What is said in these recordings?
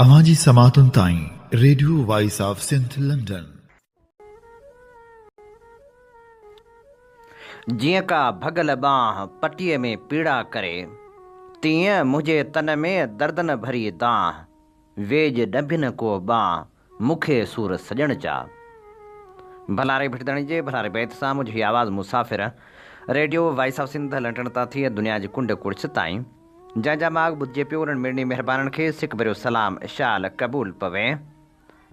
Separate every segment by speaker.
Speaker 1: اوهان جي سماعتن تائين radio voice of Sindh London.
Speaker 2: جيئن ڪا ڀڳل ٻانهه پٽيء ۾ پيڙا ڪري، تيئن منهنجي تن ۾ دردن ڀري دانهن، ويڄ ڏنڀين ڪو ٻانهه مون کي سور سڄڻ چا. ڀلا ري ڀٽدڻي جي ڀلاري بيت سان منهنجي هي آواز مسافر radio voice of Sindh London تان ٿي دنيا جي ڪنڊ ڪڙڇ تائين جنهن جا ماڳ ٻڌجي پيو انهن مڙني مهربانن کي سڪ ڀريو سلام شال قبول پوي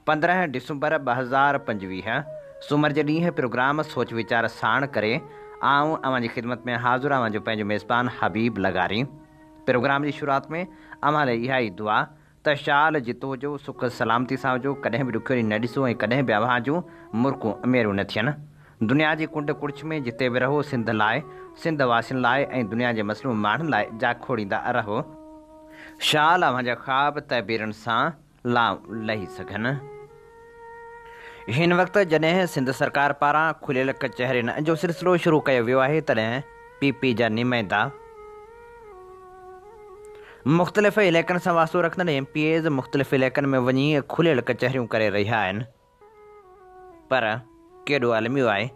Speaker 2: پندرهن ڊسمبر ٻه هزار پنجويهه سومر جي ڏينهن پروگرام سوچ ويچار ساڻ ڪري آئون اوهان جي خدمت ۾ حاضر اوهان جو پنهنجو ميزبان حبيب لغاري پروگرام جي شروعات ۾ اوهان لاء اها ئي دعا ته شال جتو هجو، سک سلامتي سان هجو، ڪڏهن به ڏکيو ڏينهن نه ڏسو ۽ ڪڏهن به اوهان جون مرڪون اميرون نه ٿين. دنيا جي ڪنڊ ڪڙڇ ۾ جتي به رهو، سنڌ لاء، سنڌ واسين لاء ۽ دنيا جي مظلوم ماڻهن لاء جا کوڙيندا رهو. شال اوهان جا خواب تعبيرن سان لام لهي سگهن. هن وقت جڏهن سنڌ سرڪار پاران کليل ڪچهرين جو سلسلو شروع ڪيو ويو آهي تڏهن پي پي جا نمائندا مختلف علائقن سان واسطو رکندڙ ايم پي ايز مختلف علائقن ۾ وڃي کليل ڪچهريون ڪري رهيا آهن پر ڪيڏو الميو آهي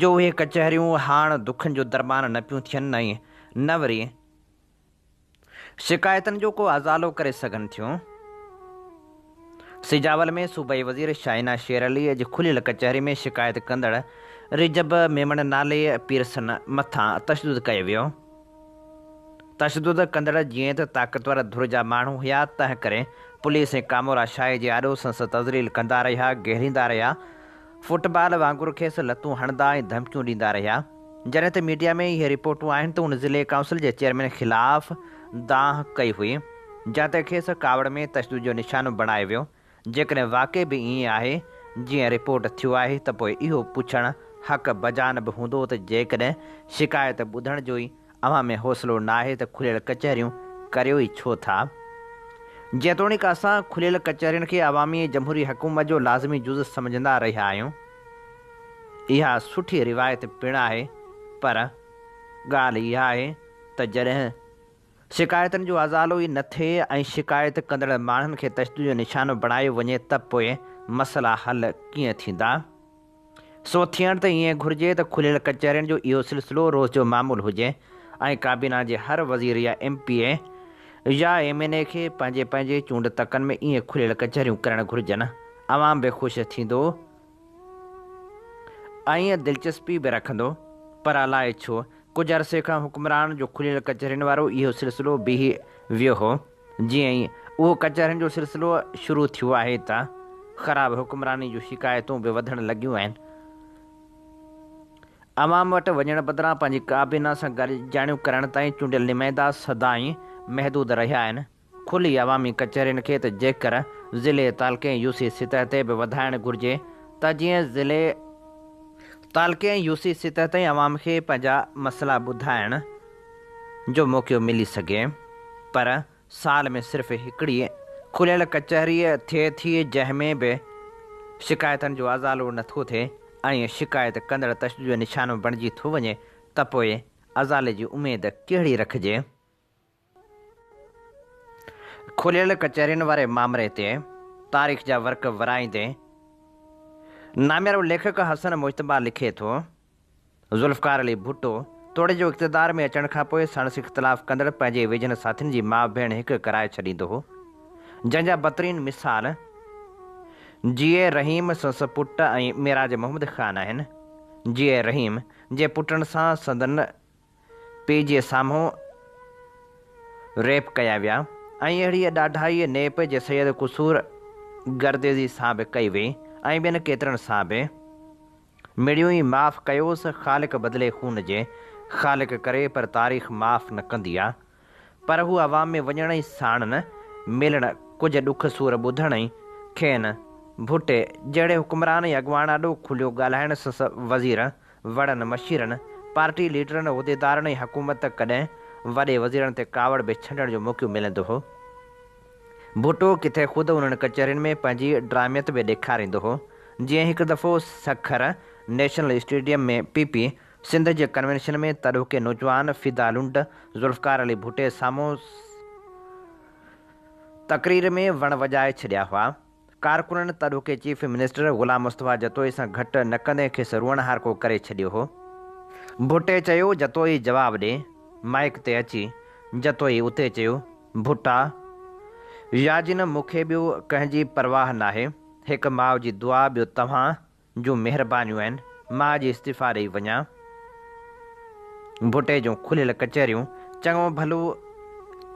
Speaker 2: جو اهي ڪچهريون هاڻ دکن جو درمان نه پيون ٿين ۽ نه وري شڪايتن جو ڪو ازالو ڪري سگهن ٿيون. سجاول ۾ صوبائي وزير شاهينه شير علي جي کليل ڪچهري ۾ شڪايت ڪندڙ رجب ميمڻ نالي پيرسن مٿان تشدد ڪيو ويو. تشدد ڪندڙ جيئن ته طاقتور ڌر جا ماڻهو هيا تنهن ڪري پوليس ۽ ڪامورا شاهي جي آڏو سنس تذليل ڪندا رهيا، گهيريندا رهيا، فٽ بال وانگر کيس لتون هڻندا ۽ ڌمڪيون ڏيندا رهيا، جڏهن ته ميڊيا ۾ اهي رپورٽون آهن ته هن ضلعي ڪائونسل جي چيئرمين خلاف دانهن ڪئي هئي، جنهن تي کيس ڪاوڙ ۾ تشدد جو نشانو بڻايو ويو، جيڪڏهن واقعي به ائين آهي جيئن رپورٽ ٿيو آهي ته پوء اهو پڇڻ حق بجانب هوندو ته جيڪڏهن شڪايت ٻڌڻ جو ئي اوهان ۾ حوصلو ناهي ته کليل ڪچهريون ڪريو ئي ڇو ٿا؟ جيتوڻيڪ اسان کليل ڪچهرين کي عوامي جمهوري حڪومت جو لازمي جز سمجهندا رهيا آهيون. اها سٺي روايت پڻ آهي پر ڳالهه اها آهي ته جڏهن شڪايتن جو ازالو ئي نه ٿئي ۽ شڪايت ڪندڙ ماڻهن کي تشدد جو نشانو بڻايو وڃي ته پوء مسئلا حل ڪيئن ٿيندا؟ سو ٿيڻ ته ائين گهرجي ته کليل ڪچهرين جو اهو سلسلو روز جو معمول هجي ۽ ڪابينا جي هر وزير يا ايم پي اي يا ايم اين اي کي پنهنجي پنهنجي چونڊ تڪن ۾ ائين کليل ڪچهريون ڪرڻ گهرجن. عوام به خوش ٿيندو ۽ دلچسپي به رکندو. پر الائي ڇو ڪجهه عرصي کان حڪمرانن جو کليل ڪچهرين وارو اهو سلسلو بيهي ويو هو. جيئن ئي اهو ڪچهرين جو سلسلو شروع ٿيو آهي ته خراب حڪمراني جون شڪايتون به وڌڻ لڳيون آهن. عوام وٽ وڃڻ بدران پنهنجي ڪابينا سان گڏجاڻيون ڪرڻ تائين چونڊيل نمائندا سدائين محدود رهيا آهن. کلي عوامي ڪچهرين کي ته جيڪر ضلعي، تعلقي ۽ يو سي سطح تي به وڌائڻ گهرجي ته جيئن ضلعي، تعلقي ۽ يو سي سطح تائين عوام کي پنهنجا مسئلا ٻڌائڻ، جو موقعو ملي سگهي پر سال ۾ صرف هڪڙي کليل ڪچهري ٿئي ٿي جنهن ۾ به شڪايتن جو ازالو نه ٿو ٿئي ۽ شڪايت ڪندڙ تشدد جو نشانو بڻجي ٿو وڃي ته پوء ازالي جي اميد ڪهڙي رکجي؟ کليل ڪچهرين واري مامري تي تاريخ جا ورق ورائيندي ناميارو ليکڪ حسن مجتبيٰ لکي ٿو ذوالفقار علي ڀٽو توڙي جو اقتدار ۾ اچڻ کان پوء ساڻس اختلاف ڪندڙ پنهنجي ويجهن ساٿين جي ماء ڀيڻ هڪ ڪرائي ڇڏيندو هو جنهن جا بھترين مثال جيئي رحيم سنس پٽ ۽ معراج محمد خان آهن جيئي رحيم جي پٽن سان سندن پي جي سامهون ريپ ڪيا ويا ۽ اهڙيء ڏاڍائيء نيپ جي سيد قصور گرديزي سان به ڪئي وئي ۽ ٻين ڪيترن سان به. مڙيون ئي معاف ڪيوس، خالق بدلي خون جي خالق ڪري پر تاريخ معاف نه ڪندي آ. پر هو عوام ۾ وڃڻ ۽ ساڻن ملڻ، ڪجهه ڏک سور ٻڌڻ ۽ کين ڀٽي جهڙي حڪمران ۽ اڳواڻ آڏو کليو ڳالهائڻ سس وزيرن، وڙن مشيرن، پارٽي ليڊرن، عهديدارن ۽ حڪومت ته ڪڏهن وڏي وزيرن تي ڪاوڙ به ڇنڊڻ جو موقعو ملندو هو. ڀٽو ڪٿي خود انهن ڪچهرين ۾ پنهنجي ڊراميت به ڏيکاريندو هو. جيئن هڪ دفعو Sukkur national stadium ۾ P P Sindh جي ڪنوينشن ۾ تڏهوڪي نوجوان فدا لنڊ ذوالفقار علي ڀٽي سامهون تقرير ۾ وڻ وڄائي ڇڏيا هئا. ڪارڪنن تڏهوڪي چيف منسٽر غلام مصطفيٰ جتوئي سان گهٽ نه ڪندي کيس روئڻهارڪو ڪري ڇڏيو هو. ڀٽي چيو جتوئي جواب ڏي. مائيڪ تي اچي جتوئي اتي چيو ڀٽا ياجنم مون کي ٻيو ڪنهن جي پرواهه ناهي. هڪ ماء جي دعا ٻيو توهان جون مهربانيون آهن، مان اڄ استعيفيٰ ڏئي وڃان. ڀٽي جون کليل ڪچهريون چڱو ڀلو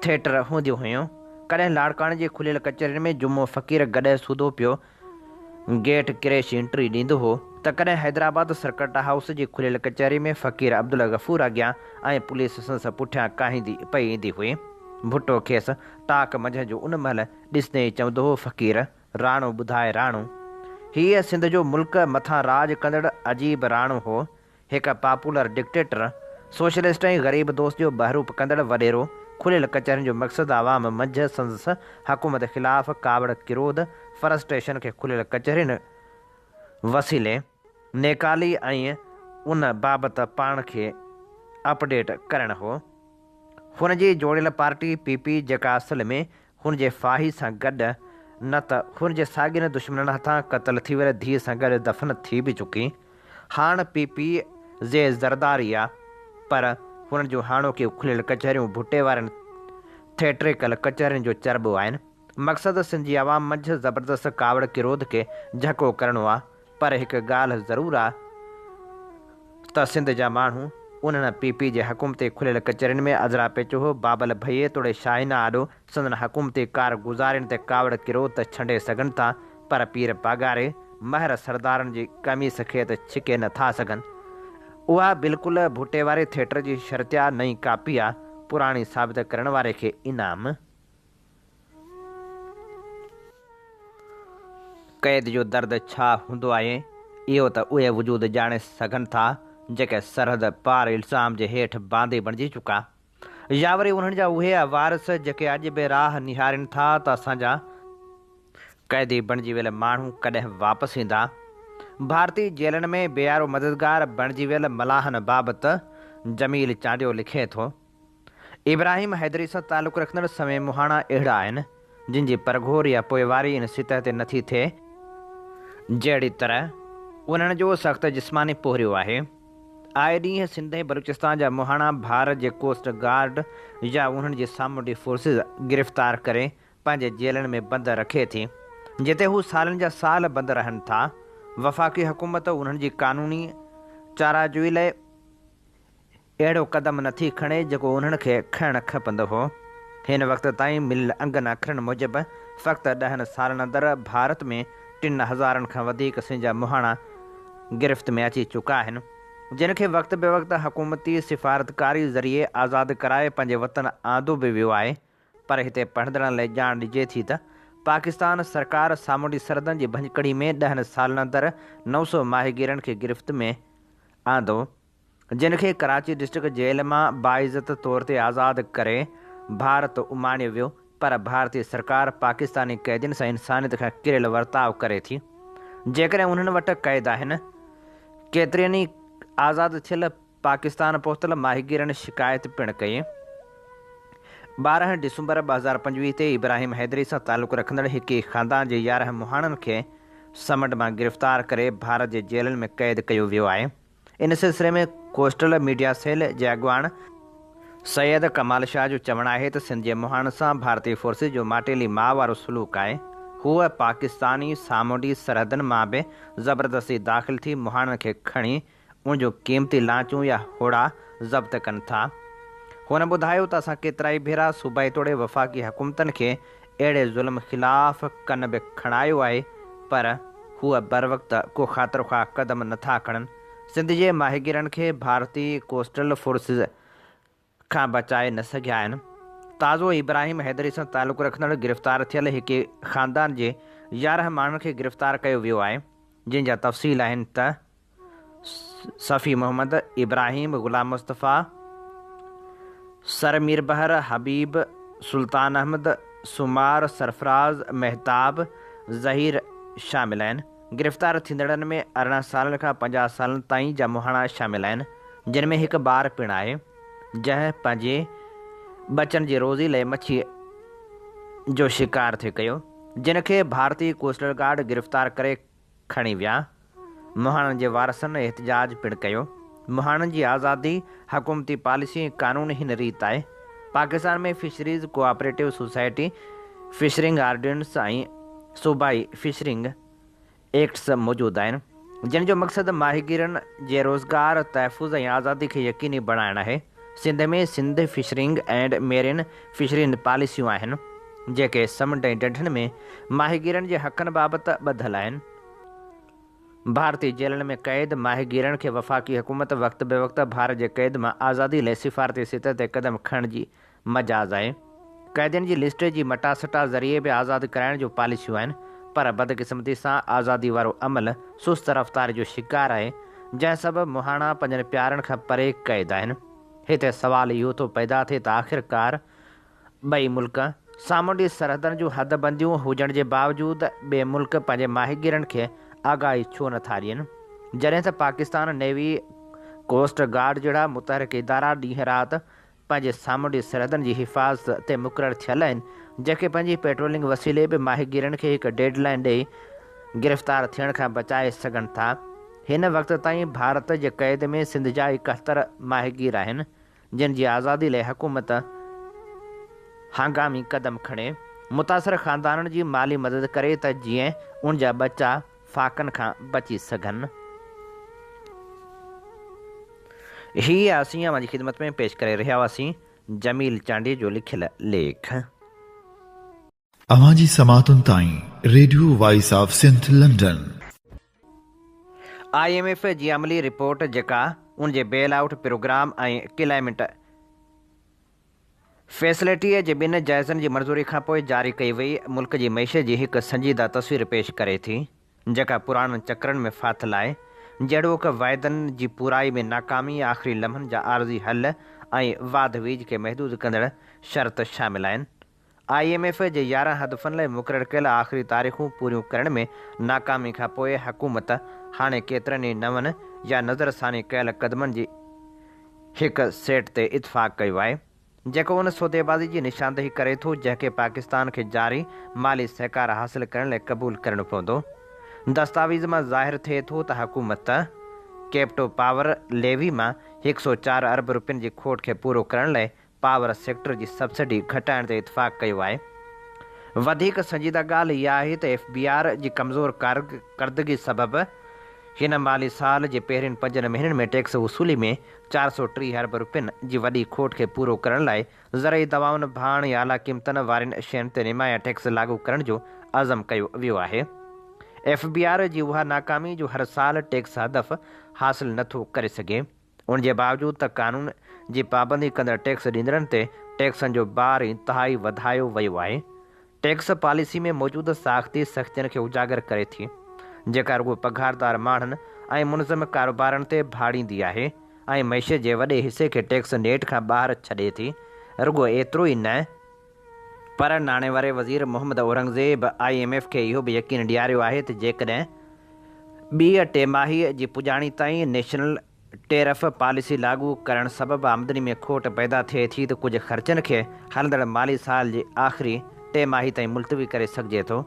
Speaker 2: ٿيٽر هونديون هيون. ڪڏهن لاڙڪاڻي جي کليل ڪچهرين ۾ جمعو فقير گڏهه سوڌو پيو گيٽ ڪريشي انٽري ڏيندو هو ته ڪڏهن حيدرآباد سرڪٽ هائوس جي کليل ڪچهري ۾ فقير عبدالغفور اڳيان ۽ پوليس سندس پٺيان ڪاهيندي پئي ايندي هئي. ڀٽو کيس ٽاڪ منجهه جو ان مهل ڏسندي ئي چوندو هو، فقير! راڻو، ٻڌاء راڻو! هيء سنڌ جو ملڪ مٿان راڄ ڪندڙ عجيب راڻو هو. هڪ پاپولر ڊڪٽيٽر، سوشلسٽ ۽ غريب دوست جو بهروپ ڪندڙ وڏيرو. کليل ڪچهرين جو مقصد عوام منجهه سندس حڪومت خلاف ڪاوڙ ڪروڌ، Frustration، کي کليل ڪچهرين وسيلي نيڪالي ۽ ان بابت پاڻ کي اپ ڊيٽ ڪرڻ هو. هن جي جوڙيل پارٽي پي پي جيڪا اصل ۾ هن جي ڦاهي سان گڏ نه ته هن جي ساڳين دشمنن هٿان قتل ٿي ويل ڌيء سان گڏ دفن ٿي به چڪي هاڻ پي پي زي زرداري آ پر هنن جون هاڻوڪيون کليل ڪچهريون ڀٽي وارين ٿيٽريڪل ڪچهرين جو چرٻو آهن مقصد سنڌ جي عوام منجهه زبردست ڪاوڙ ڪروڌ کي جهڪو ڪرڻو آ پر هڪ ڳالهه ضرور آ ته سنڌ جا ماڻهو انهن پي پي جي حڪومتي کليل ڪچهرين ۾ ازرا پيچوهو بابل ڀئي توڙي شاهينا آڏو سندن حڪومتي ڪار گذارين تي ڪاوڙ ڪرو ته ڇنڊي سگهن ٿا پر پير پاڳاري مهر سردارن جي قميص کي ته ڇڪي نه ٿا سگهن اها بلڪل ڀٽي واري ٿيٽر جي شرطيا نئين ڪاپي آ پراڻي ثابت ڪرڻ واري کي انعام قيد جو درد ڇا هوندو آهي، اهو ته اهي وجود ڄاڻي سگهن ٿا، جيڪي سرحد پار الزام جي هيٺ باندي بڻجي چڪا. يا وري انهن جا اهي وارث، جيڪي اڄ به راهه نهارين ٿا ته اسان جا قيدي بڻجي ويل ماڻهو ڪڏهن واپس ايندا. ڀارتي جيلن ۾ بيارو مددگار بڻجي ويل ملاحن بابت جميل چانڊيو لکي ٿو. ابراهيم حيدري سان تعلق رکندڙ سوين مهاڻا اهڙا آهن، جن جي پرگهور يا پوئواري ان سطح تي نٿي ٿئي، جهڙي طرح انهن جو سخت جسماني پورهيو آهي. آء ڏينهن سنڌ ۽ بلوچستان جا مهاڻا ڀار جي ڪوسٽ گارڊ يا انهن جي سامونڊي فورسز گرفتار ڪري پنهنجي جيلن ۾ بند رکي ٿي، جتي هو سالن جا سال بند رهن ٿا. وفاقي حڪومت انهن جي قانوني چاراجوئي لاء اهڙو قدم نه ٿي کڻي جيڪو انهن کي کڻڻ کپندو هو. هن وقت تائين مليل انگن اکرن موجب فقط ڏهن سالن اندر ڀارت ۾ ٽن هزارن کان وڌيڪ سنجا مهاڻا گرفت ۾ اچي چڪا آهن جن کي وقت به وقت حڪومتي سفارتڪاري ذريعي آزاد ڪرائي پنهنجي وطن آندو به ويو آهي پر هتي پڙهندڙن لئه ڄاڻ ڏجي ٿي ته پاڪستان سرڪار سامونڊي سرحدن جي ڀڃڪڙي ۾ ڏهن سالن اندر نو سو ماهيگيرن کي گرفت ۾ آندو جن کي ڪراچي ڊسٽرڪٽ جيل مان باعزت طور تي آزاد ڪري ڀارت اماڻيو ويو پر ڀارتي سرڪار پاڪستاني قيدين سان انسانيت کان ڪريل ورتاء ڪري ٿي جيڪڏهن انهن وٽ قيد آهن ڪيترين ئي آزاد ٿيل پاڪستان پهتل ماهيگيرن شڪايت پڻ ڪئي ٻارهن ڊسمبر ٻه هزار پنجويهه تي ابراهيم حيدري سان تعلق رکندڙ هڪ ئي خاندان جي يارهن مهاڻن کي سمنڊ مان گرفتار ڪري ڀارت جي جيلن ۾ قيد ڪيو ويو آهي ان سلسلي ۾ ڪوسٽل ميڊيا سيل جي اڳواڻ سيد ڪمال شاهه جو چوڻ آهي ته سنڌ جي مهاڻ سان ڀارتي فورسز جو ماٽيلي ماء وارو سلوڪ آهي، هوء پاڪستاني سامونڊي سرحدن مان به زبردستي داخل ٿي مهاڻن کي کڻي ان جون قيمتي لانچون يا هوڙا ضبط ڪن ٿا. هن ٻڌايو ته اسان ڪيترائي ڀيرا صوبائي توڙي وفاقي حڪومتن کي اهڙي ظلم خلاف ڪن به کڻايو آهي پر هو بروقت ڪو خاطر خواهه قدم نه ٿا کڻن، سنڌ جي ماهيگيرن کي ڀارتي ڪوسٽل فورسز کان بچائي نه سگهيا آهن، تازو ابراهيم حيدري سان تعلق رکندڙ گرفتار ٿيل هڪ ئي خاندان جي يارهن ماڻهن کي گرفتار ڪيو ويو آهي جنهن جا تفصيل آهن ته. صفي محمد، ابراهيم، غلام مصطفيٰ، سر ميربحر، حبيب، سلطان احمد، سومار، سرفراز، مهتاب، ظهير شامل آهن. گرفتار ٿيندڙن ۾ ارڙهن سالن کان پنجاهه سالن تائين جا مهاڻا شامل آهن، جن ۾ هڪ ٻار پڻ آهي، جنهن پنهنجي ٻچن جي روزي لئي مڇيء جو شڪار ٿي ڪيو، جنهن کي ڀارتي ڪوسٽل گارڊ گرفتار ڪري کڻي ويا. مهاڻن جي وارثن احتجاج پڻ ڪيو. مهاڻن جي آزادي، حڪومتي پاليسي ۽ قانون هن ريت آهي. Pakistan ۾ fisheries cooperative society, fishing ordinance ۽ صوبائي فشرنگ ايڪٽس موجود آهن، جن جو مقصد ماهيگيرن جي روزگار، تحفظ ۽ آزادي کي يقيني بڻائڻ آهي. Sindh ۾ Sindh fishing and marine fisheries پاليسيون آهن، جيڪي سمنڊ ۽ ڍنڍن ۾ ماهيگيرن جي حقن بابت ٻڌل آهن. ڀارتي جيلن ۾ قيد ماهيگيرن کي وفاقي حڪومت وقت بوقت ڀار جي قيد مان آزادي لئي سفارتي سطح تي قدم کڻڻ جي مجاز آهي. قيدين جي لسٽ جي مٽاسٽا ذريعي به آزاد ڪرائڻ جون پاليسيون آهن پر بدقسمتي سان آزادي وارو عمل سست رفتاري جو شڪار آهي جنهن سبب مهاڻا پنهنجن پيارن کان پري قيد آهن هتي سوال اهو ٿو پيدا ٿئي ته آخرڪار ٻئي ملڪ سامونڊي سرحدن جون حد بنديون هجڻ جي باوجود ٻئي ملڪ پنهنجي ماهيگيرن کي آگاهي ڇو نه ٿا ڏين جڏهن ته پاڪستان نيوي ڪوسٽ گارڊ جهڙا متحرڪ ادارا ڏينهن رات پنهنجي سامونڊي سرحدن جي حفاظت تي مقرر ٿيل آهن، جيڪي پنهنجي پيٽرولنگ وسيلي به ماهيگيرن کي هڪ ڊيڊ لائين ڏئي گرفتار ٿيڻ کان بچائي سگهن ٿا. هن وقت تائين ڀارت جي قيد ۾ سنڌ جا ايڪهتر ماهيگير آهن، جن جي آزادي لاء حڪومت هنگامي قدم کڻي، متاثر خاندانن جي مالي مدد ڪري ته جيئن ان جا ٻچا فاقن کان بچي سگهن. هي اسين اوهان جي خدمت ۾ پيش ڪري رهيا هئاسين جميل چانڊيي جو لکيل ليک.
Speaker 1: اوهان جي سماعتن تائين radio voice of Sindh London. I
Speaker 2: M F جي عملي رپورٽ جيڪا ان جي بيل آئوٽ پروگرام ۽ ڪلائمينٽ فيسلٽيء جي ٻن جائزن جي منظوري کانپوء جاري ڪئي وئي ملڪ جي معيشت جي هڪ سنجيده تصوير پيش ڪري ٿي، جيڪا پراڻن چڪرن ۾ ڦاٿل آهي، جهڙوڪ، واعدن جي پورائي ۾ ناڪامي، آخري لمحن جا عارضي حل ۽ واڌ ويجهه کي محدود ڪندڙ شرط شامل آهن. آء ايم ايف جي يارهن هدفن لاء مقرر ڪيل آخري تاريخون پوريون ڪرڻ ۾ ناڪامي کان پوء حڪومت هاڻي ڪيترن ئي نون يا نظرثاني ڪيل قدمن جي هڪ سيٽ تي اتفاق ڪيو آهي جيڪو ان سوديبازي جي نشاندهي ڪري ٿو جنهن کي پاڪستان کي جاري مالي سهڪار حاصل ڪرڻ لاء قبول ڪرڻو پوندو. دستاويز مان ظاهر ٿئي ٿو ته حڪومت ڪيپٽو پاور ليوي مان هڪ سؤ چار ارب روپين جي کوٽ کي پورو ڪرڻ لاء پاور سيڪٽر جي سبسڊي گهٽائڻ تي اتفاق ڪيو آهي. وڌيڪ سنجيده ڳالهه اها آهي ته ايف بي آر جي ڪمزور ڪارڪردگي سبب هن مالي سال جي پهرين پنجن مهينن ۾ ٽيڪس وصولي ۾ چار سؤ ٽيهه ارب رپين جي وڏي کوٽ کي پورو ڪرڻ لاء زرعي دوائن، ڀاڻ ۽ اعليٰ قيمتن وارين شين تي نمايان ٽيڪس لاڳو ڪرڻ جو عزم ڪيو ويو آهي. ايف بي آر جي اها ناڪامي جو هر سال ٽيڪس هدف حاصل نٿو ڪري سگهي. ان جي باوجود ته قانون جي پابندي ڪندڙ ٽيڪس ڏيندڙن تي ٽيڪسن جو بار انتهائي وڌايو ويو آهي. ٽيڪس پاليسي ۾ موجود ساختي سختين کي اجاگر ڪري ٿي، جيڪا رڳو پگهاردار ماڻهن ۽ منظم ڪاروبارن تي ڀاڙيندي آهي ۽ معيشت جي وڏي حصي کي ٽيڪس نيٽ کان ٻاهر ڇڏي ٿي، رڳو ايترو ئي نه، پر ناڻي واري وزير Muhammad Aurangzeb I M F کي اهو به يقين ڏياريو آهي ته جيڪڏهن ٻيء ٽيماهي جي پڄاڻي تائين نيشنل ٽيرف پاليسي لاڳو ڪرڻ سبب آمدني ۾ کوٽ پيدا ٿئي ٿي ته ڪجهه خرچن کي هلندڙ مالي سال جي آخري ٽيماهي تائين ملتوي ڪري سگهجي ٿو.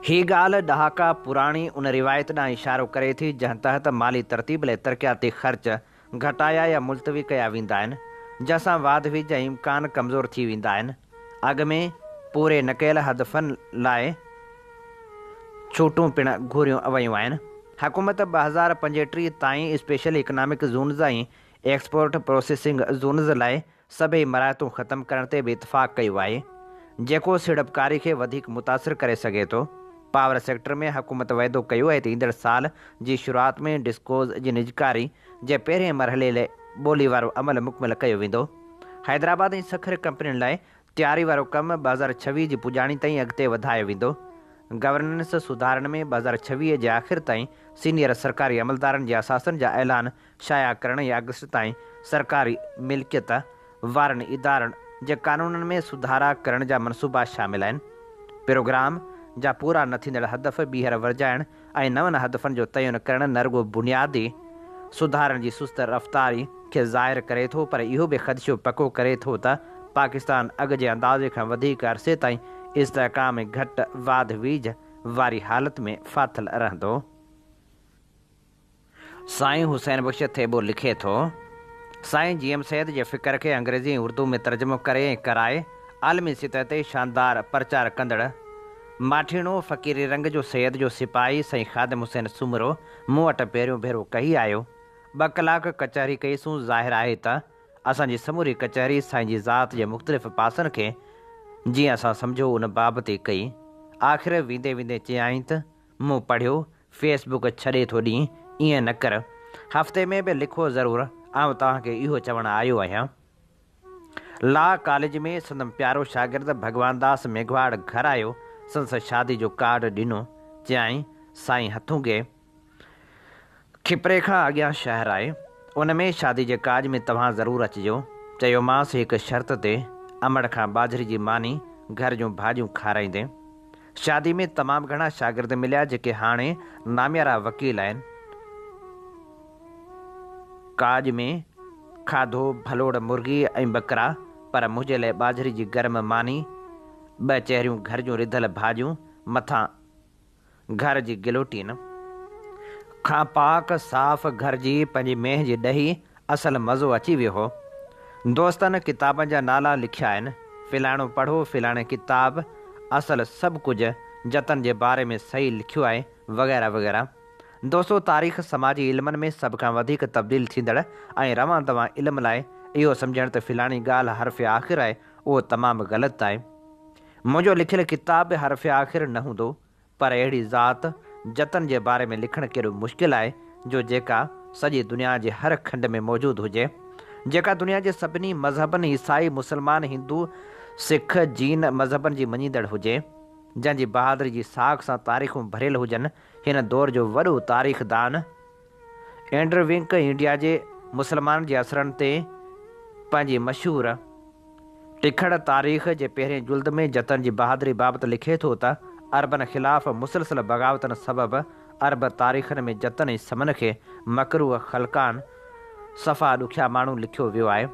Speaker 2: هي ڳالهه ڏهاڪا پراڻي ان روايت ڏانهن اشارو ڪري ٿي جنهن تحت مالي ترتيب لاء ترقياتي خرچ گهٽايا يا ملتوي ڪيا ويندا آهن، جنهن سان واڌ ويجهه جا امڪان ڪمزور ٿي ويندا آهن. اڳ ۾ پوري نه ڪيل هدفن لاء ڇوٽون پڻ گهريون ويون آهن. حڪومت ٻه هزار پنجوٽيهه تائين special economic zones ۽ export processing zones لاء سڀئي مراعتون ختم ڪرڻ تي به اتفاق ڪيو آهي، جيڪو سيڙپڪاري کي وڌيڪ متاثر ڪري سگهي ٿو. پاور سيڪٽر ۾ حڪومت وعدو ڪيو آهي ته ايندڙ سال جي شروعات ۾ ڊسڪوز جي نجڪاري جي پهرين مرحلي لئه ٻولي وارو عمل مڪمل ڪيو ويندو. حيدرآباد ۽ سکر ڪمپنين لاء تياري وارو ڪم ٻه هزار ڇويهه جي پڄاڻي تائين اڳتي وڌايو ويندو. گورننس سڌارن ۾ ٻه هزار ڇويهه جي آخر تائين سينيئر سرڪاري عملدارن جي اثاثن جا اعلان شايع ڪرڻ يا اگسٽ تائين سرڪاري ملڪيت وارن ادارن جي قانونن ۾ سڌارا ڪرڻ جا منصوبا شامل آهن. پروگرام جا پورا نه ٿيندڙ هدف ٻيهر ورجائڻ ۽ نون هدفن جو تعين ڪرڻ نه رڳو بنيادي سڌارن جي سست رفتاري کي ظاهر ڪري ٿو پر اهو به خدشو پڪو ڪري ٿو ته پاڪستان اڳ جي اندازي کان وڌيڪ عرصي تائين استحڪام ۽ گهٽ واڌ ويجهه واري حالت ۾ ڦاٿل رهندو. سائين حسين بخش ٿيٻو لکي ٿو، سائين جي ايم سيد جي فڪر کي انگريزي ۽ اردو ۾ ترجمو ڪري ۽ ڪرائي عالمي سطح تي شاندار پرچار ڪندڙ ماٺيڻو فقيري رنگ جو سيد جو سپاهي سائين خادم حسين سومرو مون وٽ پهريون ڀيرو ڪهي آيو. ٻه ڪلاڪ ڪچهري ڪئي سون ظاهر آهي ته اسان جي سموري ڪچهري سائين جي ذات جي مختلف پاسن کي جيئن اسان سمجهو ان بابت ئي ڪئي. آخر ويندي ويندي چيائين ته. مون پڙهيو فيس بوڪ ڇڏي ٿو ڏين ائين نه ڪر هفتي ۾ به لکو ضرور آئون توهان کي اهو چوڻ آيو آهيان لا ڪاليج ۾ سندم پيارو شاگرد ڀڳوان داس ميگهواڙ گهر آيو سندس شادي جو ڪارڊ ڏنو چيائين سائين هٿونگي کپري کان اڳيان شهر آهي، ان ۾ شادي جي ڪاڄ ۾ توهان ضرور اچجو. چيومانس هڪ شرط تي، امڙ کان ٻاجهري جي ماني، گهر جون ڀاڄيون کارائيندين. شادي ۾ تمام گهڻا شاگرد مليا جيڪي هاڻي ناميارا وڪيل آهن. ڪاڄ ۾ کاڌو ڀلوڙ مرغي ۽ ٻڪرا پر منهنجي لاء ٻاجهري جي گرم ماني، ٻه چهريون گهر جون رڌل ڀاڄيون، مٿان. گهر جي گلوٽين کان پاڪ صاف گهر جي پنهنجي مينهن جي ڏهي اصل مزو اچي ويو هو. دوستن ڪتابن جا نالا لکيا آهن، فلاڻو پڙهو فلاڻي ڪتاب اصل سڀ ڪجهه جتن جي باري ۾ صحيح لکيو آهي وغيره وغيره. دوستو تاريخ سماجي علمن ۾ سڀ کان وڌيڪ تبديل ٿيندڙ ۽ روان دوان علم لاء اهو سمجهڻ ته فلاڻي ڳالهه حرف آخر آهي اهو تمام غلط آهي. منهنجو لکيل ڪتاب به حرف آخر نه هوندو، پر اهڙي ذات، جتن جي باري ۾ لکڻ ڪيڏو مشڪل آهي، جو جيڪا سڄي دنيا جي هر کنڊ ۾ موجود هجي. جيڪا دنيا جي سڀني مذهبن، عيسائي، مسلمان، هندو، سک، جين، مذهبن جي مڃيندڙ هجي. جنهن جي بهادري جي ساک سان تاريخون ڀريل هجن. هن دور جو وڏو تاريخدان. اينڊرو وينڪ انڊيا جي مسلمانن جي اثرن تي پنهنجي مشهور ٽکڙ تاريخ جي پهرين جلد ۾ جتن جي بهادري بابت لکي ٿو ته، عربن خلاف مسلسل بغاوتن سبب عرب تاريخن ۾ جتن ۽ سمن کي مڪروهه خلقان، صفا ڏکيا ماڻهو، لکيو ويو آهي.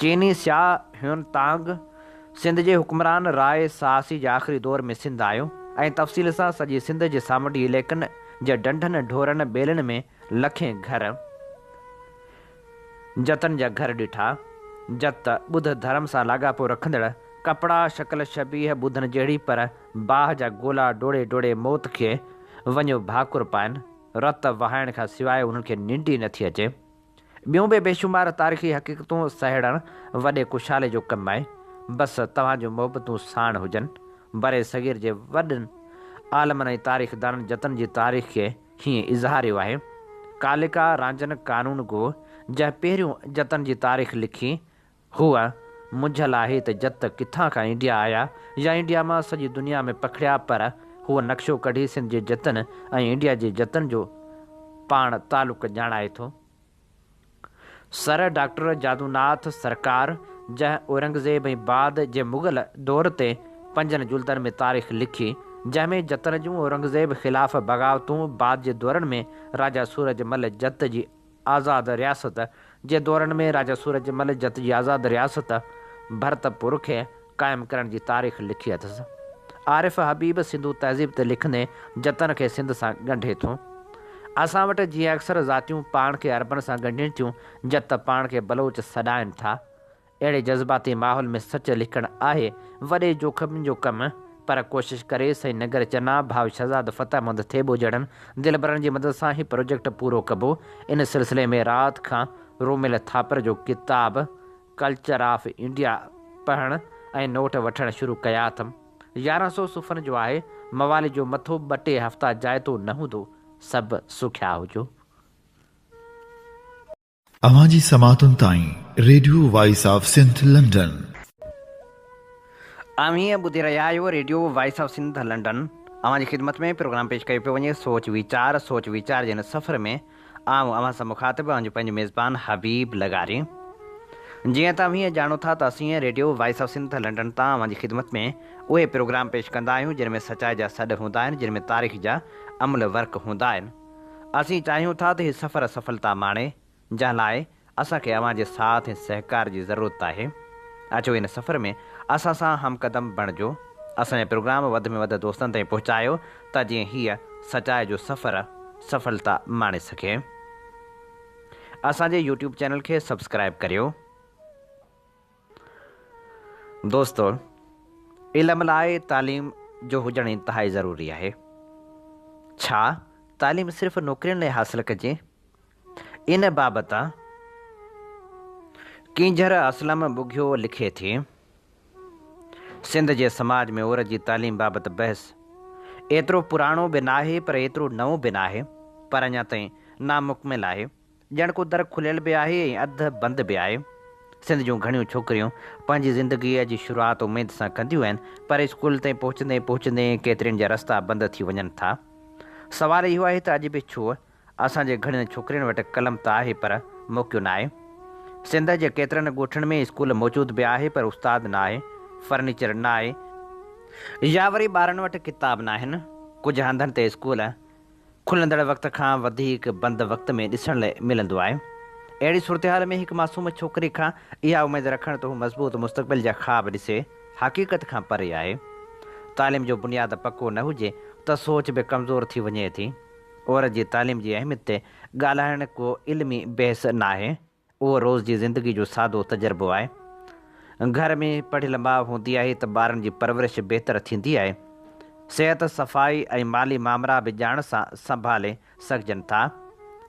Speaker 2: چيني سياح هيون تانگ سنڌ جي حڪمران راء ساسي جي آخري دور ۾ سنڌ آيو ۽ تفصيل سان سڄي سنڌ جي سامنڊي عليقن جي ڍنڍن، ڍورن، ٻيلن ۾ لکين گهر، جتن جا گهر ڏٺا. جت، ٻڌ ڌرم سان لاڳاپو رکندڙ ڪپڙا، شڪل شبيهه ٻڌن جهڙي پر باهه جا گولا ڊوڙي ڊوڙي موت کي وڃيو ڀاڪر پائن، رت وهائڻ کان سواء انهن کي ننڊ ئي نٿي اچي. ٻيون به بيشمار تاريخي حقيقتون سهيڙڻ وڏي ڪشالي جو ڪم آهي. بس توهان جون محبتون ساڻ هجن. برصغير جي وڏن عالمن ۽ تاريخدانن جتن جي تاريخ کي هيئن اظهاريو آهي. ڪاليڪا رانجن قانون گو، جنهن پهريون جتن جي تاريخ لکي، هوء منجهيل آهي ته جت ڪٿان کان انڊيا آيا يا انڊيا مان سڄي دنيا ۾ پکڙيا پر هوء نقشو ڪڍي سنڌ جي جتن ۽ انڊيا جي جتن جو پاڻ تعلق ڄاڻائي ٿو. سر ڊاڪٽر جادو ناٿ سرڪار جنهن اورنگزيب ۽ بعد جي مغل دور تي پنجن جلدن ۾ تاريخ لکي جنهن ۾ جتن جون اورنگزيب خلاف بغاوتون بعد جي دورن ۾ راجا سورج مل جت جي آزاد رياست جي دورن ۾ راجا سورج مل جت جي آزاد رياست ڀرتپور کي قائم ڪرڻ جي تاريخ لکي اٿس. عارف حبيب سنڌو تهذيب تي لکندي جتن کي سنڌ سان ڳنڍي ٿو. اسان وٽ جيئن اڪثر ذاتيون پاڻ کي عربن سان ڳنڍين ٿيون، جت پاڻ کي بلوچ سڏائين ٿا. اهڙي جذباتي ماحول ۾ سچ لکڻ آهي وڏي جوکم جو ڪم پر ڪوشش ڪري سائين نگر چنا ڀاء شھزاد فتح محمد ٿيٻو جهڙن دلبرن جي مدد سان هي پروجيڪٽ پورو ڪبو ان سلسلي ۾ رات کان رومل ٿاپر جو ڪتاب ڪلچر آف انڊيا پڙهڻ ۽ نوٽ وٺڻ شروع ڪيا اٿم يارهن سؤ صفحن جو آهي موالي جو مٿو ٻه ٽي هفتا جائتو نه هوندو سڀ سکيا هجو.
Speaker 1: اوهان جي سماعتن تائين radio voice of Sindh London.
Speaker 2: اوهين ٻڌي رهيا آهيو radio voice of Sindh London اوهان جي خدمت ۾ پروگرام پيش ڪيو پيو وڃي سوچ ويچار سوچ ويچار جي هن سفر ۾ آئون اوهان سان مخاطب اوهان جو پنهنجو ميزبان حبيب لغاري جيئن ته اوهين ڄاڻو ٿا ته اسين radio voice of Sindh London تان اوهان جي خدمت ۾ اهي پروگرام پيش ڪندا آهيون جن ۾ سچائي جا سڏ هوندا آهن جن ۾ تاريخ جا املهه ورق هوندا آهن اسين چاهيون ٿا ته هي سفر سڦلتا ماڻي، جنهن لاء اسان کي اوهان جي ساٿ ۽ سهڪار جي ضرورت آهي. اچو ان سفر ۾ اسان سان همقدم بڻجو، اسان جا پروگرام وڌ ۾ وڌ دوستن تائين پهچايو ته جيئن هيء سچائي جو سفر سڦلتا ماڻي سگهي. اسان جي يوٽيوب چينل کي سبسڪرائيب ڪريو. دوستو! علم لاء تعليم جو هجڻ انتهائي ضروري آهي. ڇا تعليم صرف نوڪرين لاء حاصل ڪجي؟ ان بابت ڪينجهر اسلم ٻگهيو لکي ٿي، سنڌ جي سماج ۾ عورت جي تعليم بابت بحث ايترو پراڻو به ناهي پر ايترو نئون به ناهي پر اڃا تائين نامڪمل آهي. ڄڻ ڪو در کليل به آهي ۽ اڌ بند به آهي. سنڌ جون گهڻيون ڇوڪريون پنهنجي زندگيء جي شروعات اميد سان ڪنديون آهن، پر اسڪول تائين پهچندي پهچندي ڪيترين جا رستا بند ٿي وڃن ٿا. سوال اهو آهي ته اڄ به ڇو؟ اسان جي گهڻين ڇوڪرين وٽ قلم ته آهي پر موقعو نه آهي. سنڌ جي ڪيترن ڳوٺن ۾ اسڪول موجود به آهي پر استاد نه آهي، فرنيچر نه آهي، يا وري ٻارن وٽ ڪتاب نه آهن، ڪجهه هنڌن تي اسڪول کلندڙ وقت کان وڌيڪ بند وقت ۾ ڏسڻ لاء ملندو آهي. اهڙي صورتحال ۾ هڪ معصوم ڇوڪري کان اها اميد رکڻ ته هو مضبوط مستقبل جا خواب ڏسي، حقيقت کان پري آهي. تعليم جو بنياد پڪو نه هجي ته سوچ به ڪمزور ٿي وڃي ٿي. عورت جي تعليم جي اهميت تي ڳالهائڻ ڪو علمي بحث ناهي. اهو روز جي زندگي جو سادو تجربو آهي. گهر ۾ پڙهيل ماء هوندي آهي ته ٻارن جي پرورش بهتر ٿيندي آهي. صحت، صفائي ۽ مالي مامرا به ڄاڻ سان سنڀالي سگهجن ٿا.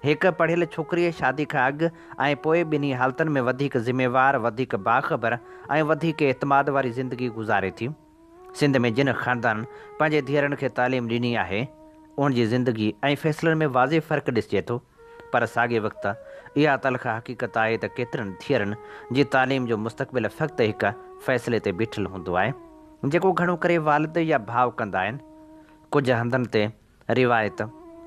Speaker 2: هڪ پڙهيل ڇوڪريء شادي کان اڳ ۽ پوء ٻنهي حالتن ۾ وڌيڪ ذميوار، وڌيڪ باخبر ۽ وڌيڪ اعتماد واري زندگي گذاري ٿي. سنڌ ۾ جن خاندانن پنهنجي ڌيئرن کي تعليم ڏني آهي، انهن جي زندگي ۽ فيصلن ۾ واضح فرق ڏسجي ٿو. پر ساڳئي وقت اها تلخ حقيقت آهي ته ڪيترن ڌيئرن جي تعليم جو مستقبل فقط هڪ فيصلي تي بيٺل هوندو آهي جيڪو گهڻو ڪري والد يا ڀاء ڪندا آهن. ڪجهه هنڌن تي روايت،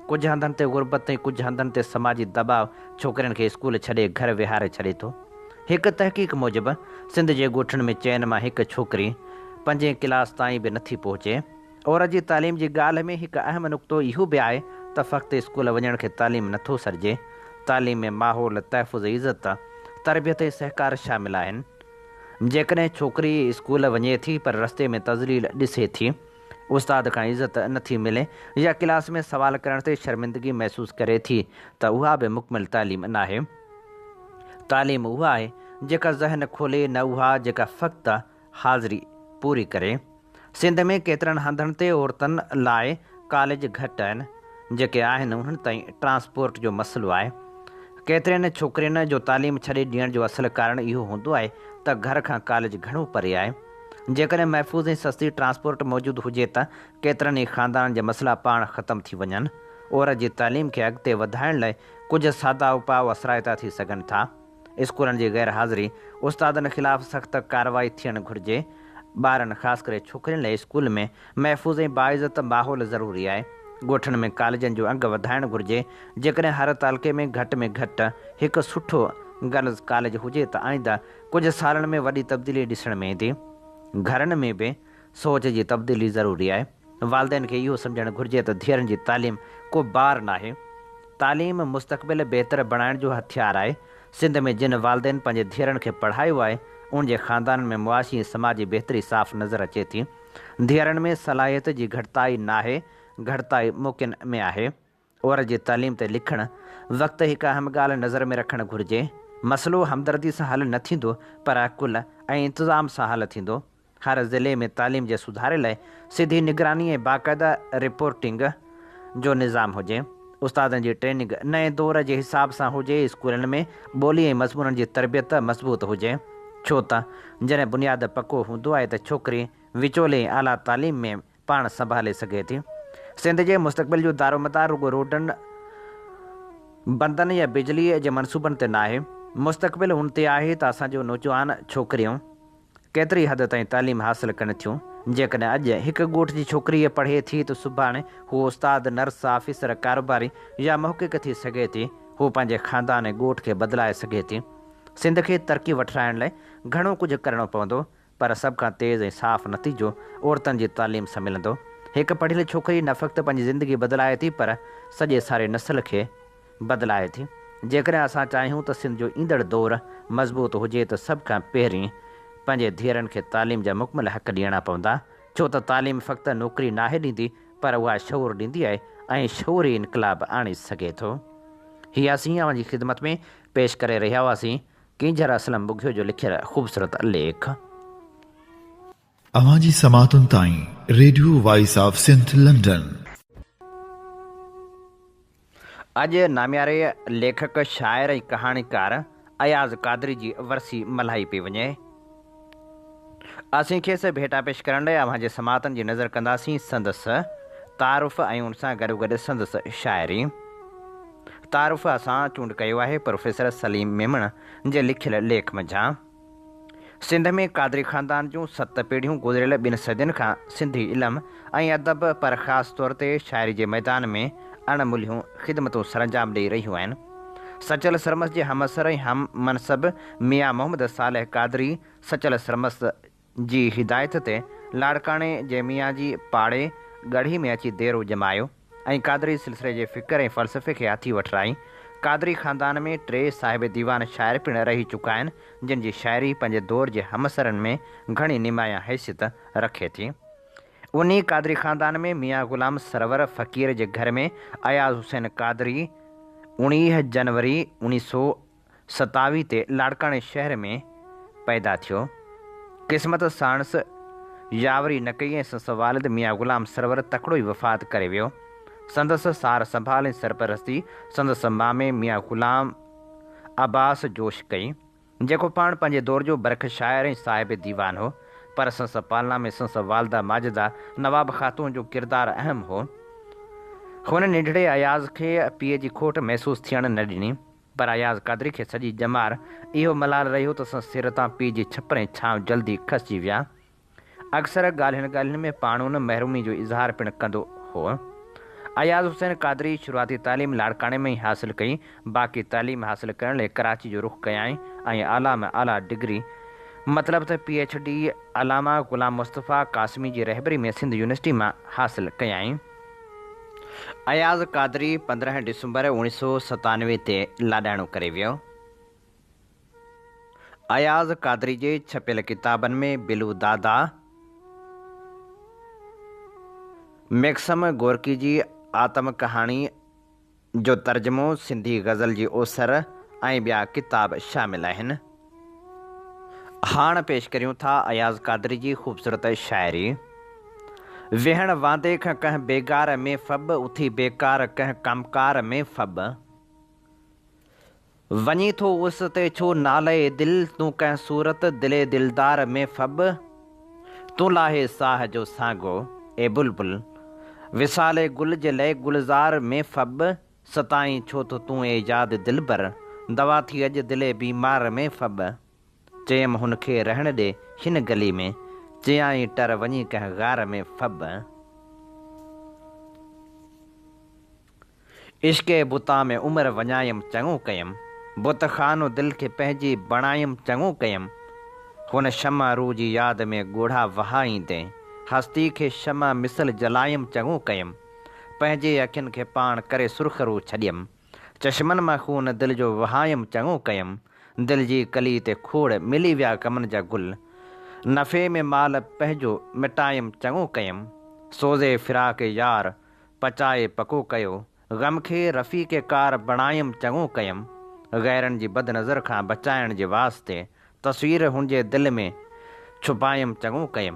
Speaker 2: ڪجهه هنڌن تي غربت ۽ ڪجهه هنڌن تي سماجي دٻاء ڇوڪرين کي اسڪول ڇڏي گهر ويهاري ڇڏي ٿو. هڪ تحقيق موجب سنڌ جي ڳوٺن ۾ چئن مان هڪ ڇوڪري پنجين ڪلاس تائين به نٿي پهچي. عورت جي تعليم جي ڳالهه ۾ هڪ اهم نقطو اهو به آهي ته فقط اسڪول وڃڻ کي تعليم نه ٿو سڏجي، تعليم ۾ ماحول، تحفظ، عزت، تربيت ۽ سهڪار شامل آهن. جيڪڏهن ڇوڪري اسڪول وڃي ٿي پر رستي ۾ تذليل ڏسي ٿي، استاد کان عزت نه ٿي ملي يا ڪلاس ۾ سوال ڪرڻ تي شرمندگي محسوس ڪري ٿي ته اها به مڪمل تعليم ناهي. تعليم اها آهي جيڪا ذهن کولي نه اها جيڪا فقط حاضري پوري ڪري. سنڌ ۾ ڪيترن هنڌن تي عورتن لاء ڪاليج گهٽ آهن، جيڪي آهن انهن تائين ٽرانسپورٽ جو مسئلو آهي. ڪيترين ڇوڪرين جو تعليم ڇڏي ڏيڻ جو اصل ڪارڻ اهو هوندو آهي ته گهر کان ڪاليج گهڻو پري آهي. جيڪڏهن محفوظ ۽ سستي ٽرانسپورٽ موجود هجي ته ڪيترن ئي خاندانن جا مسئلا پاڻ ختم ٿي وڃن. عورت جي تعليم کي اڳتي وڌائڻ لاء ڪجهه سادا اپاء اثرائتا ٿي سگهن ٿا. اسڪولن جي غير حاضري استادن خلاف سخت ڪارروائي ٿيڻ گهرجي، ٻارن خاص ڪري ڇوڪرين لاء اسڪول ۾ محفوظ ۽ باعزت ماحول ضروري آهي، ڳوٺن ۾ ڪاليجن جو انگ وڌائڻ گهرجي، جيڪڏهن هر تعلقي ۾ گهٽ ۾ گهٽ هڪ سٺو گرلز ڪاليج هجي ته آئنده ڪجهه سالن ۾ وڏي تبديلي ڏسڻ ۾ ايندي، گهرن ۾ به سوچ جي تبديلي ضروري آهي. والدين کي اهو سمجهڻ گهرجي ته ڌيئرن جي تعليم ڪو بار ناهي، تعليم مستقبل بهتر بڻائڻ جو هٿيار آهي، سنڌ ۾ جن والدين پنهنجي ڌيئرن کي پڙهايو آهي، انهن جي خاندانن ۾ معاشي ۽ سماجي بهتري صاف نظر اچي ٿي، ڌيئرن ۾ صلاحيت جي گهٽتائي ناهي، گهٽتائي موقعن ۾ آهي. عورت جي تعليم تي لکڻ وقت هڪ اهم ڳالهه نظر ۾ رکڻ گهرجي، مسئلو همدردي سان حل نه ٿيندو پر عقل ۽ انتظام سان حل ٿيندو. هر ضلعي ۾ تعليم جي سڌاري لاء سڌي نگراني ۽ باقاعده رپورٽنگ جو نظام هجي. استادن جي ٽريننگ نئين دور جي حساب سان هجي، اسڪولن ۾ ٻولي ۽ مضمونن جي تربيت مضبوط هجي. ڇو ته جڏهن بنياد پڪو هوندو آهي ته ڇوڪري وچولي ۽ اعليٰ تعليم ۾ پاڻ سنڀالي سگهي ٿي. سنڌ جي مستقبل جو دارومدار رڳو روڊن، بندن يا بجليء جي منصوبن تي ناهي، مستقبل ان تي آهي ته اسان جون نوجوان ڇوڪريون ڪيتري حد تائين تعليم حاصل ڪن ٿيون، جيڪڏهن اڄ هڪ ڳوٺ جي ڇوڪريء پڙهي ٿي ته سڀاڻي هوء استاد، نرس، آفيسر، ڪاروباري يا محقق ٿي سگهي ٿي، هوء پنهنجي خاندان ۽ ڳوٺ کي بدلائي سگهي ٿي. سنڌ کي ترقي وٺرائڻ لاء گهڻو ڪجهه ڪرڻو پوندو، پر سڀ کان تيز ۽ صاف نتيجو عورتن جي تعليم سان ملندو. هڪ پڙهيل ڇوڪري نه فقط پنهنجي زندگي بدلائي ٿي پر سڄي ساري نسل کي بدلائي ٿي. جيڪڏهن اسان چاهيون ته سنڌ جو ايندڙ دور مضبوط هجي ته سڀ کان پهرين پنهنجي ڌيئرن کي تعليم جا مڪمل حق ڏيڻا پوندا ڇو ته تعليم فقط نوڪري ناهي ڏيندي پر اها شعور ڏيندي آهي ۽ شعور ئي انقلاب آڻي سگهي ٿو. هي اسين اوهان جي خدمت ۾ پيش ڪري رهيا هئاسين. ڪينجهر اسلم ٻگهيو جو لکيل خوبصورت ليک.
Speaker 1: اوهان جي سماعتن تائين radio voice of Sindh London.
Speaker 2: اڄ نامياري ليکڪ، شاعر ۽ ڪهاڻيڪار اياز قادري جي ورسي ملهائي پئي وڃي. اسين کيس ڀيٽا پيش ڪرڻ لاء اوهان جي سماعتن جي نذر ڪنداسين سندس تعارف ۽ ان سان گڏوگڏ سندس شاعري تعارف اسان چونڊ ڪيو آهي پروفيسر سليم ميمڻ جي لکيل ليک منجهان سنڌ ۾ قادري خاندان جون ست پيڙهيون گذريل ٻن صدين کان سنڌي علم ۽ ادب پر خاص طور تي شاعري جي ميدان ۾ اڻ ملهيون خدمتون سرانجام ڏئي رهيون آهن سچل سرمست جي همعصر ۽ هم منصب ميان محمد صالح قادري سچل سرمست جي هدايت تي لاڙڪاڻي جي ميان جي پاڙي ڳڙهي ۾ اچي ديرو ڄمايو ۽ قادري سلسلي جي فڪر ۽ فلسفي کي هٿي وٺرائي. قادري خاندان ۾ ٽي صاحب ديوان شاعر پڻ رهي چڪا آهن، جن جي شاعري پنهنجي دور جي همعصرن ۾ گهڻي نمايان حيثيت رکي ٿي. انهي قادري خاندان ۾ ميان غلام سرور فقير جي گهر ۾ اياز حسين قادري اڻيهه جنوري اوڻيهه سؤ ستاوي تي لاڙڪاڻي شهر ۾ پيدا ٿيو. قسمت ساڻس ياوري نه ڪئي ۽ سنس والد ميان غلام سرور تڪڙو ئي وفات ڪري ويو. سندس سار سنڀال ۽ سرپرستي سندس مامي ميان غلام عباس جوش ڪئي، جيڪو پاڻ پنهنجي دور جو برک شاعر ۽ صاحب ديوان هو، پر سنس پالنا ۾ سنس والده ماجده نواب خاتون جو ڪردار اهم هو. هن ننڍڙي اياز کي پيء جي کوٽ محسوس ٿيڻ نه ڏني. پر اياز قادري کي سڄي ڄمار اهو ملال رهي هو ته سندس سر تان پيء جي ڇپر ۽ ڇانو جلدي کسجي ويا. اڪثر ڳالهين ڳالهين ۾ پاڻهون محرومي جو اظهار پڻ ڪندو هو. اياز حسين قادري شروعاتي تعليم لاڙڪاڻي ۾ ئي حاصل ڪئي، باقي تعليم حاصل ڪرڻ لئي ڪراچي جو رخ ڪيائين ۽ اعليٰ ۾ اعليٰ ڊگري مطلب ته P H D Allama Ghulam Mustafa Qasmi جي رهبري ۾ سنڌ يونيورسٽي مان حاصل ڪيائين. اياز قادري پندرهن ڊسمبر اوڻيهه سؤ ستانوي تي لاڏاڻو ڪري ويو. اياز قادري جي ڇپيل ڪتابن ۾ بلو دادا، ميڪسم گورڪي جي آتم ڪهاڻي، جو ترجمو، سنڌي غزل جي اوسر ۽ ٻيا ڪتاب شامل آهن. هاڻ پيش ڪريون ٿا اياز قادري جي خوبصورت شاعري، ويهڻ واندي کن ڪنهن بيگار ۾ ڦٻ، اٿي بيڪار ڪنهن ڪم ڪار ۾ ڦٻ. وڃي ٿو اس تي ڇو نالئي دل تون ڪنهن صورت دل دلدار ۾ ڦٻ تون لاهي ساهه جو سانگو اي بلبل وصال گل جي لئي گلزار ۾ ڦٻ ستائين ڇو ٿو تون اي ياد دلبر دوا ٿي اڄ دل بيمار ۾ ڦٻ چيم هن کي رهڻ ڏي هن گلي ۾ چيائين ٽر وڃي ڪنهن غار ۾ ڦٻ. عشق بتان ۾ عمر وڃايم چڱو ڪيم بت خانو دل کي پنهنجي بڻايم چڱو ڪيم هن شمع روح جي ياد ۾ ڳوڙها وهائيندي هستي کي شمع مثل جلايم چڱو ڪيم پنهنجي اکين کي پاڻ ڪري سرخرو ڇڏيم چشمن مان خون دل جو وهايم چڱو ڪيم دل جي ڪلي تي کوڙ ملي ويا غمن جا گل نفعي ۾ مال پنهنجو مٽايم چڱو ڪيم سوزي فراق يار پچائي پڪو ڪيو، غم کي رفيق ڪار بڻايم چڱو ڪيم، غيرن جي بد نظر کان بچائڻ جي واسطي تصوير هن جي دل ۾ ڇپايم چڱو ڪيم،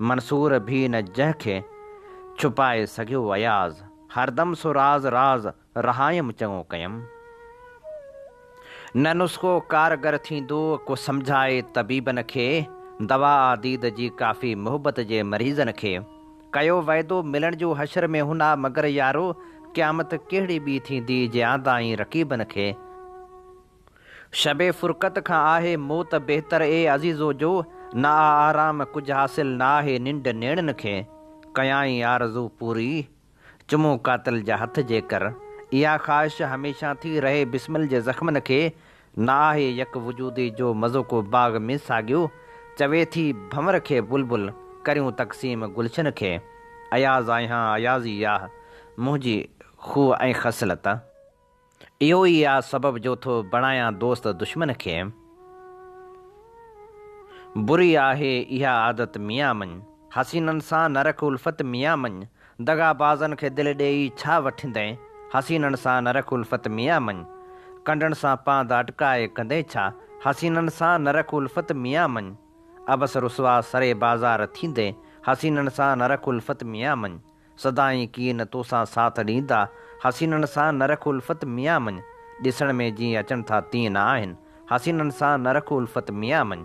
Speaker 2: منصور ڀي نه جنهن کي ڇپائي سگهيو اياز، هردم سو راز راز رهايم چڱو ڪيم، نه نسخو ڪارگر ٿيندو ڪو سمجهائي طبيبن کي، دوا آ ديد جي ڪافي محبت جي مريضن کي، ڪيو وعدو ملڻ جو حشر ۾ هن آ مگر يارو قيامت ڪهڙي ٻي ٿيندي جي آندائين رقيبن کي شب فرقت کان آهي موت بهتر اي عزيزو جو نه آ آرام ڪجهه حاصل نه آهي ننڊ نيڻن کي ڪيائين آرزو پوري چمون قاتل جا هٿ جيڪر اها خواهش هميشه ٿي رهي بسمل جي زخمن کي نه آهي يڪ وجودي جو مزو ڪو باغ ۾ ساڳيو چوي ٿي ڀنور کي بلبل ڪريون تقسيم گلشن کي اياز آهيان ايازي ياه منهنجي خوء ۽ خصلت اهو ئي آ سبب جو ٿو بڻايان دوست دشمن کي بري آهي اها عادت ميان مڃ حسينن سان نه رک الفت ميان مڃ دغابازن کي دل ڏيئي ڇا وٺندين، حسينن سان نه رک الفت ميان مڃ. ڪنڊن سان پانڌ اٽڪائي ڪندين ڇا، حسينن سان نه رک الفت ميان مڃ. عبث رسوا سري بازار ٿيندين، حسينن سان نه رک الفت ميان مڃ. سدائين ڪين توسان ساٿ ڏيندا، حسينن سان نه رک الفت ميان مڃ. ڏسڻ ۾ جيئن اچن ٿا تيئن نه آهن، حسينن سان نه رک الفت ميان مڃ.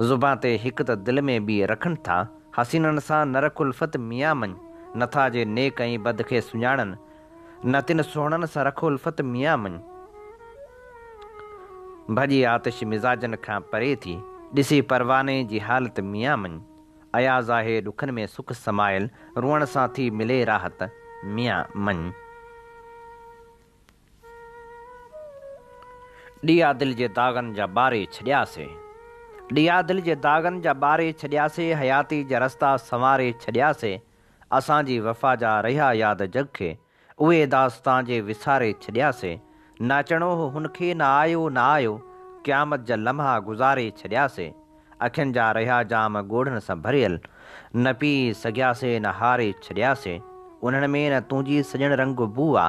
Speaker 2: زبان تي هڪ ته دل ۾ ٻي رکن ٿا. حسينن سان نه رک الفت ميان مڃ. نه ٿا جي نيڪ ۽ بد کي سڃاڻن. نه تن سهڻن سان رک الفت ميان مڃ. ڀڄي آتش مزاجن کان پري ٿي. ڏسي پرواني جي حالت ميان مڃ. اياز آهي ڏکن ۾ سک سمايل. روئڻ سان ٿي ملي راحت ميان مڃ. ڏيئا دل جي داغن جا ٻاري ڇڏياسي. ڏيئا دل جي داغن جا ٻاري ڇڏياسي حياتي جا رستا سنواري ڇڏياسي اسان جي وفا جا رهيا ياد جڳ کي اهي داستان جي وساري ڇڏياسي نه اچڻو هو هن کي نه آيو نه آيو قيامت جا لمحا گذاري ڇڏياسي اکين جا رهيا جام ڳوڙهن سان ڀريل نه پي سگهياسي نه هاري ڇڏياسي انهن ۾ نه تنهنجي سڄڻ رنگ بو آ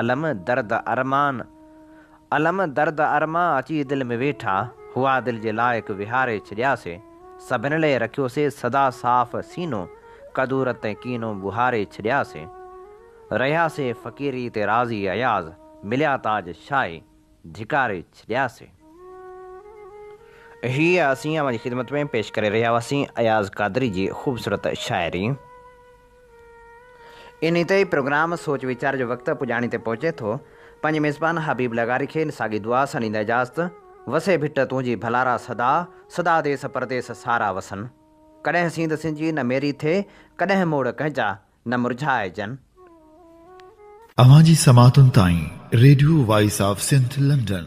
Speaker 2: الم درد ارمان الم درد ارمان اچي دل ۾ ويٺا هئا دل جي لائق وهاري ڇڏياسي سڀن لئه رکيوسي سدا صاف سينو ڪدورت ۽ ڪينو ٻهاري ڇڏياسي رهياسي فقيري تي راضي اياز مليا تاج شاهي ڌڪاري ڇڏياسي. هيء اسين اوهان جي خدمت ۾ پيش ڪري رهيا هئاسين اياز قادري جي خوبصورت شاعري. انهيء تي ئي پروگرام سوچ ويچار جو وقت پڄاڻي تي پهچي ٿو. پنهنجي ميزبان حبيب لغاري کي ان ساڳي دعا سان ڏيندي اجازت، وسي ڀٽ تنهنجي ڀلارا سدا، سدا ديس پرديس سارا وسن. ڪڏهن سينڌ سنجي نه ميري ٿئي، ڪڏهن موڙ ڪنهن جا نه مرجهائجن.
Speaker 1: اوهان جي سماعتن تائين radio voice of Sindh London.